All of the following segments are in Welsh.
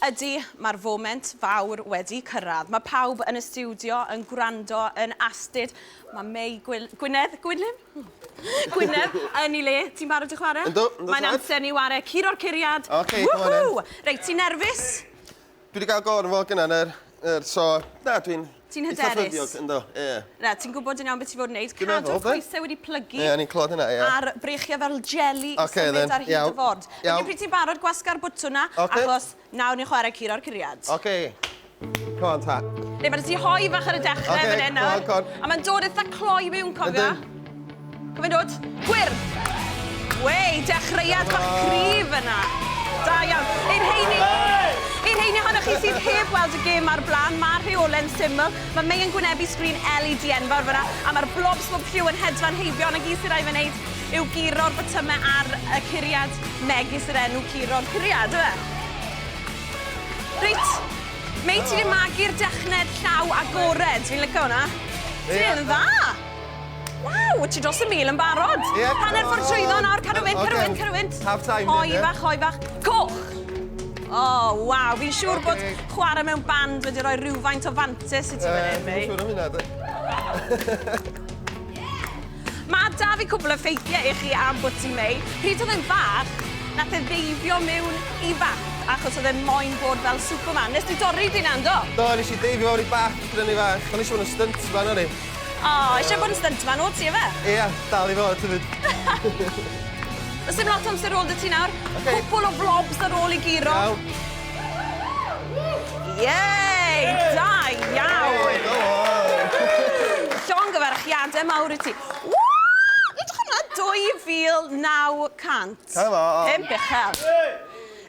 Ydy, mae'r foment fawr wedi cyrraedd. Mae pawb yn y stiwdio yn gwrando, yn astud. Mae Mei Gwil... Gwynedd? Gwynlym? Gwynedd yn ei le. Ti'n barod i chwarae? Yndw, yndw tad. Mae'n amser ni ware Curo'r Curiad. Ok, come on then. Woohoo! Reit, ti'n nerfus? Dwi 'di gael go ar fy ngwallt gynna yn yr... yr... so, na, dwi'n... Ti'n hyderus? Eitha ffyddiog, ynddo, ie. Yeah. Na, ti'n gwybod yn iawn beth ti fod yn neud. Dwi'n meddwl, Cadw'r coesau wedi plygu. Ie, yeah, ni'n clod hynna, ie. Yeah. A'r breichiau fel jelly okay, symud then. ar hyd y ford. Iawn. Felly pryd ti'n barod, gwasga'r bwtwn na, okay. achos nawr ni'n chwarae curo'r curiad. Oce. Okay. Come on, ta. Neu, mae'n ti hoi fach ar y dechrau okay, fan hyn nawr. Okay, go on, go on. A mae'n dod eitha cloi mewn, cofio? Ydyn. Cofyn dod. Gwyrdd! Wei, dechreuad bach cryf yna. Da iawn. I'r heini, i'r heini ohonoch chi sydd heb weld y gêm ar blaen, mae rheole'n syml. Mae May yn gwynebu sgrin LED enfawr fyna, a mae'r blob swb lliw yn hedfan heibio, ond y gyd sy'n rhaid fe wneud yw guro'r botymau ar y curiad megis yr enw guro'r curiad, yw e? Reit, May, ti wedi magu'r dechned llaw agored. Fi'n licio hwnna. Ti'n dda! Waw, ti dros y mil yn barod. Ie. Hanner ffordd trwyddo nawr, cadw fynd, cadw fynd, cadw fynd. Half time. Hoi fach, hoi fach. Coch! O, oh, waw, fi'n siŵr okay. bod chwarae mewn band wedi rhoi rhywfaint o fantes i ti fan hyn, mei. Dwi'n siŵr am hynna, Mae da fi cwbl o ffeithiau i chi am bod ti'n mei. Pryd oedd yn fach, nath e ddeifio mewn i fach achos oedd e'n moyn bod fel Superman. Nes ti dorri di, Nando? Do, nes i deifio mewn i bach, brynu fach. O'n eisiau bod yn stunt fan o'n i. O, eisiau bod yn stuntman o ti efe? Ia, dal i fod hefyd. Does dim lot o amser ôl da ti nawr. Okay. Cwpwl o vlogs ar ôl i giro. Iawn. Yay! Da iawn! Llongyfarchiadau mawr i ti. Woo! Edrych hwnna, 2,900. Cael o. Pum bechel.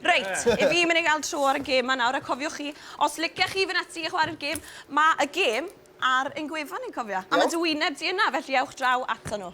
Reit, i fi mynd i gael tro ar y gêm ma nawr, a cofiwch chi, os licech chi fynd ati i chwarae'r gêm, mae y gêm Ar ein gwefan ni'n cofia. A ma dy wyneb di yna, felly ewch draw ato nhw.